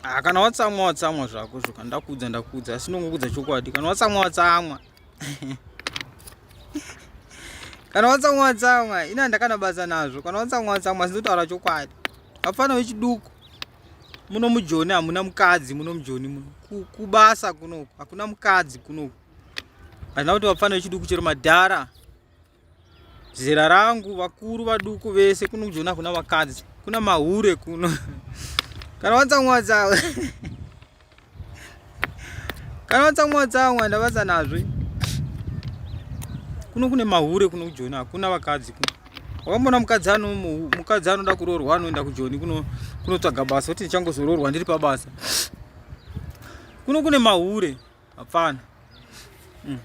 ah, kana watsamwa watsamwa zvako zvo kana ndakuudza ndakuudza asi ndongokuudza chokwadi kana watsamwa watsamwa kana watsamwa watsamwa ini handakanabasa nazvo kana watsamwa watsamwa sinotaura chokwadi vafana vechiduku muno mujoni hamuna mukadzi muno mujoni muno kubasa kunoku hakuna mukadzi kunoku handina kuti vafana vechiduku chero madhara zera rangu vakuru vaduku vese kuno kujona kuna vakadzi kuna mahure kuno kana watsamwa tsamwa kana watsamwa tsamwa ndavasa nazve kuno kune mahure kuno kujona hakuna vakadzi kuno wakamboona mukadzi ano mukadzi anoda kuroorwa anoenda kujoni kuno kunotsvaga basa kuti ndichangozoroorwa ndiri pabasa kuno kune mahure Hapana. Mm.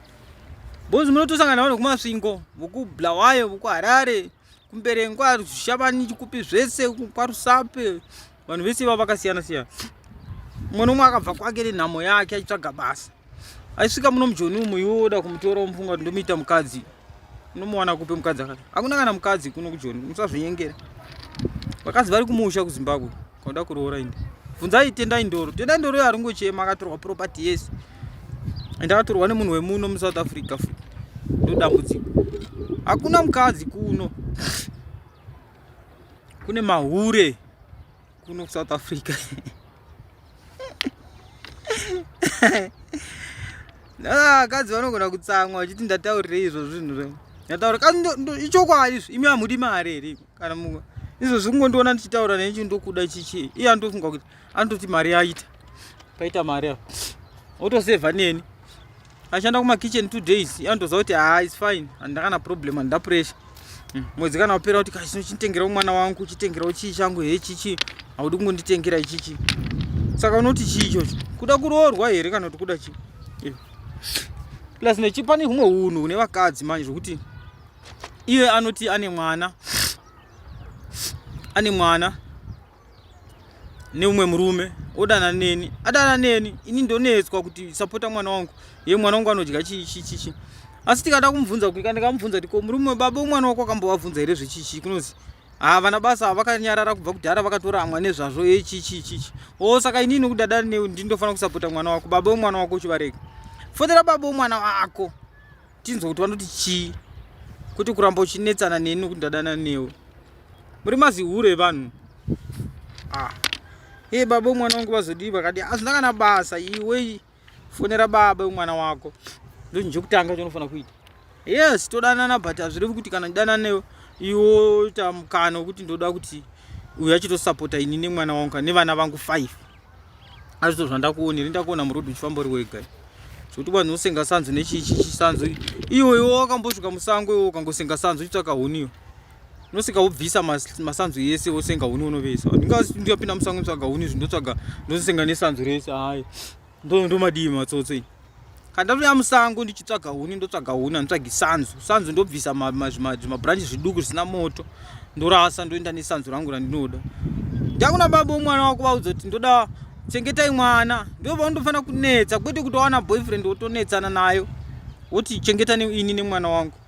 Bozi munotosangana nawo nekumasvingo vokubulawayo vokuharare kumberengwa zvishavani chikupi zvese kwarusape vanhu vese ivavo vakasiyana siyana mwana umwe akabva kwake nenhamo yake achitsvaga basa aisvika muno mujoni umu yoda kumutora mufunga kuti ndomuita mukadzi unomuwana kupi mukadzi akati hakuna kana mukadzi kuno kujoni musazvinyengera vakadzi vari kumusha kuzimbabwe kwauda kuroora indi bvunzai tendai ndoro tendai ndoro yo haringochema akatorwa property yese ende akatorwa nemunhu wemuno musouth africa fu ndodambudziko hakuna mukadzi kuno kune mahure kuno kusouth africa vakadzi ah, vanogona kutsamwa vachiti ndataurirei izvo zvinhu zve ndataura ka ichokwadi izvo imi hamudi mari here kana mu izvo zvikungondiona ndichitaura nechi ndokuda chichii iye anotofunga kuti anototi mari yaita paita mari avo otosevha neni ashanda kuma kitchen two days anotoziva kuti haa is fine handina kana problem handina pressure hmm. mwedzi kana wapera kuti kachino chitengerawo mwana wangu chitengerawo chii changu he chichi haudi kungonditengera ichichi saka unoti chii ichocho kuda kuroorwa here kana kuti kuda chii eh. plus nechipa ne humwe unhu hune vakadzi manje zvokuti iye anoti ane mwana ane mwana neumwe murume odana neni adana neni ini ndonetswa kuti sapota mwana wangu ye mwana wangu anodya chichichichi asi tikada kumubvunza kuika ndikamubvunza kuti ko murume webaba umwana wako akambovabvunza here zvechichi kunozi haa vana basa vakanyarara kubva kudhara vakatoramwa nezvazvo echichichichi o oh, saka inini kudada newe ndindofanira kusapota mwana wako baba wemwana wako uchivarega fotera baba wemwana wako tinzwa kuti vanoti chii kwete kuramba uchinetsana neni nokuti ndadana newe muri mazihure evanhu ah. e baba umwana wangu vazodii vakadi hazvina kana basa iwe fonera baba umwana wako ndozvinhu chekutanga chaunofanira kuita yes todanana but hazvirevi kuti kana ndidanana newe iwo tamukana wekuti ndoda kuti uyu achitosapota ini nemwana wangu nevana vangu five azvito zvandakuona iri ndakuona murodhi uchifamba uri wega zvekuti vanhu usenga sanzu nechichisanzu iwe iwe wakambosvika musango iwe ukangosenga sanzu uchitsvaka huniyo unosvika wobvisa masanzu yese wosenga huni unovesa ndingapinda musango ndotsvaga huni izvi ndotsvaga ndosenga nesanzu rese hayi ndomadii matsotso kandatouya musango ndichitsvaga huni ndotsvaga huni anditsvagi sanzu sanzu ndobvisa zvimabranchi zviduku zvisina moto ndorasa ndoenda nesanzu rangu randinoda ndakuna baba omwana wako vaudza kuti ndoda chengetai mwana ndovandofanira kunetsa kwete kutowana boyfriend wotonetsana nayo woti chengetani ini nemwana wangu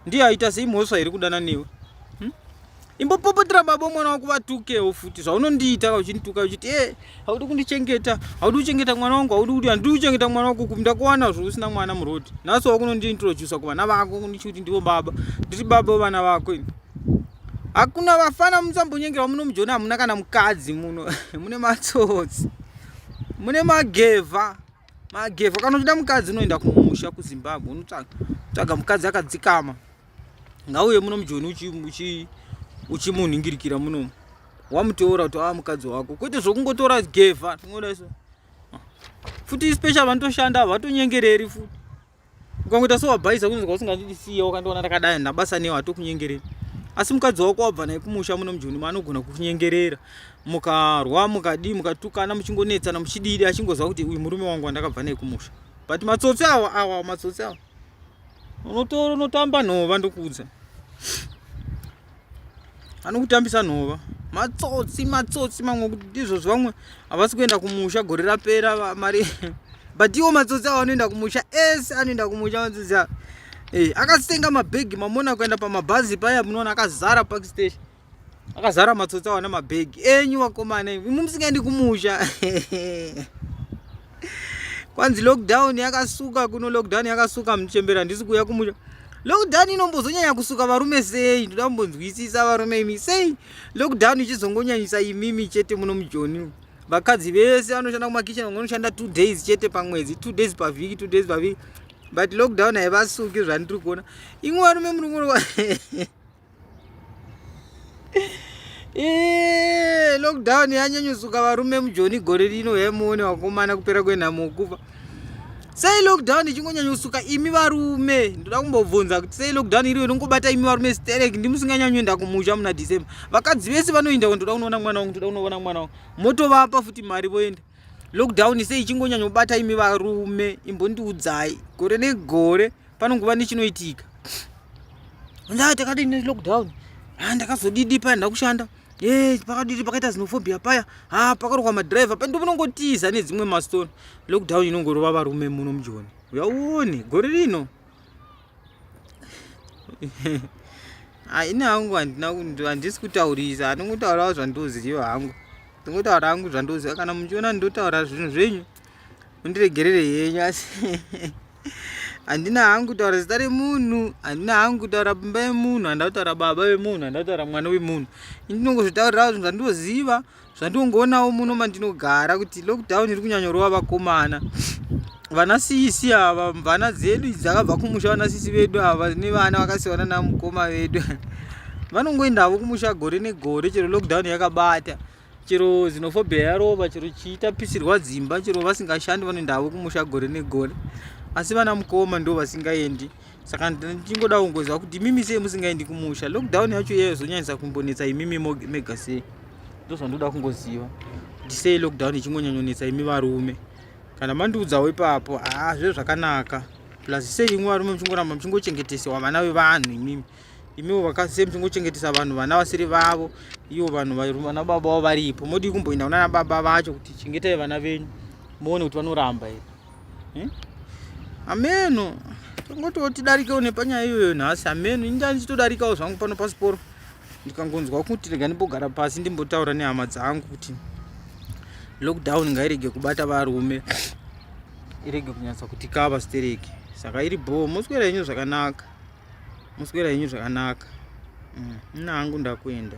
ndiye aita sei mhosva iri kudana newe hmm? imbopopotera baba mwana wako vatukewo futi zvaunondiita ka uchindituka uchiti e eh, haudi kundichengeta haudi kuchengeta mwana wangu haudi kuti handidi kuchengeta mwana wako kumi ndakuwana zvo usina mwana murodi nhasi wakunondiintrodusa kuvana vako kundichi kuti ndivo baba ndiri baba wevana vako ini hakuna vafana musambonyengerwa muno mujoni hamuna kana mukadzi muno mune matsotsi mune magevha Magevha kana uchida mukadzi unoenda kumusha kuZimbabwe unotsvaga tsvaga mukadzi akadzikama ngauye muno mujoni uchi uchi uchimunhingirikira muno wamuteura kuti ava mukadzi wako kwete zvokungotora gevha tingoda iso futi special vanotoshanda vatonyengereri futi ukangoita sewabhaisa kunzwa usingandidisiye wakandiona ndakadai ndabasa newe hatokunyengerei asi mukadzi wako wabva naye kumusha muno mujoni maanogona kukunyengerera mukarwa mukadii mukatukana muchingonetsana muchididi achingoziva kuti uyu murume wangu wandakabva naye kumusha but matsotsi awa awa matsotsi awa unotoro unotamba nhova ndokuudza anokutambisa nhova matsotsi matsotsi mamwe kuti izvozvo vamwe havasi kuenda kumusha gore rapera mari but iwo matsotsi avo anoenda kumusha ese anoenda kumusha matsotsi avo hey, eh, akasenga mabhegi mamona kuenda pamabhazi paya munoona akazara park station akazara matsotsi avo nemabhegi enyu vakomana imu musingaendi kumusha kwanzi lockdown yakasuka kuno lockdown yakasuka muchembera ndisi kuuya kumusha lockdown inombozonyanya kusuka varume sei ndoda kumbonzwisisa varume imi sei lockdown ichizongonyanyisa imimi chete muno mujoni vakadzi vese vanoshanda kumakitchen vamwe vanoshanda two days chete pamwedzi two days pavhiki two days pavhiki but lockdown haivasuki zvandiri kuona imwe varume muri kuona Eee, lockdown yanyanyusuka varume mujoni gore rino hemuone wakomana kupera kwenhamo kufa sei lockdown ichingonyanyusuka imi varume ndoda kumbobvunza kuti sei lockdown iriyo inongobata imi varume sterek ndimusinganyanyuenda kumusha muna december vakadzi vese vanoenda ko ndoda kunoona mwana wangu ndoda kunoona mwana wangu motovapa futi mari voenda lockdown sei ichingonyanyobata imi varume imbondiudzai gore negore panongova nechinoitika ndaa takadii nelockdown ha ndakazodidi paya ndakushanda e pakadidi pakaita zinofobia paya ha pakarokwa madriver pa ndomunongotiza nedzimwe mastone lockdown inongorova varume muno mujoni uyauone gore rino haina hangu handisi kutaurisa handingotaurawo zvandoziva hangu ndingotaura hangu zvandoziva kana muchiona ndinotaura zvinhu zvenyu mundiregerere henyu asi handina hangu kutaura zita remunhu handina hangu kutaura pimba yemunhu handina kutaura baba vemunhu handina kutaura mwana wemunhu indinongozvitaurirawo zvinhu zvandinoziva zvandinongoonawo muno mandinogara kuti lockdown iri kunyanyorova vakomana vana sisi ava mvana dzedu idzi dzakabva kumusha vana sisi vedu ava nevana vakasiyana namukoma vedu vanongoendavo kumusha gore negore chero lockdown yakabata chero xenophobia yarova chero chiitapisirwa dzimba chero vasingashandi vanoenda havo kumusha gore negore asi vana mukoma ndo vasingaendi saka ndichingoda kungoziva kuti imimi sei musingaendi kumusha lockdown yacho iyeyo zonyanyisa kumbonetsa imimi mega sei ndo zvandoda kungoziva kuti sei lockdown ichingonyanyonetsa imi varume kana mandiudzawo ipapo haa zve zvakanaka plus sei imwe varume muchingoramba muchingochengetesewa vana vevanhu imimi imiwo vakasei muchingochengetesa vanhu vana vasiri vavo ivo vanhu vana baba vavo varipo modii kumboenda kunana baba vacho kuti chengetai vana venyu muone kuti vanoramba here hmm? ameno tongotiwo tidarikewo nepanyaya iyoyo nhasi ameno inda ndichitodarikawo zvangu pano pasiporo ndikangonzwa kuti rega ndimbogara pasi ndimbotaura nehama dzangu kuti lockdown ngairege kubata varume irege kunyatsa kuti kava stereki saka iri bhoo moswera yenyu zvakanaka muswera henyu zvakanaka mm. nina hangu ndakuenda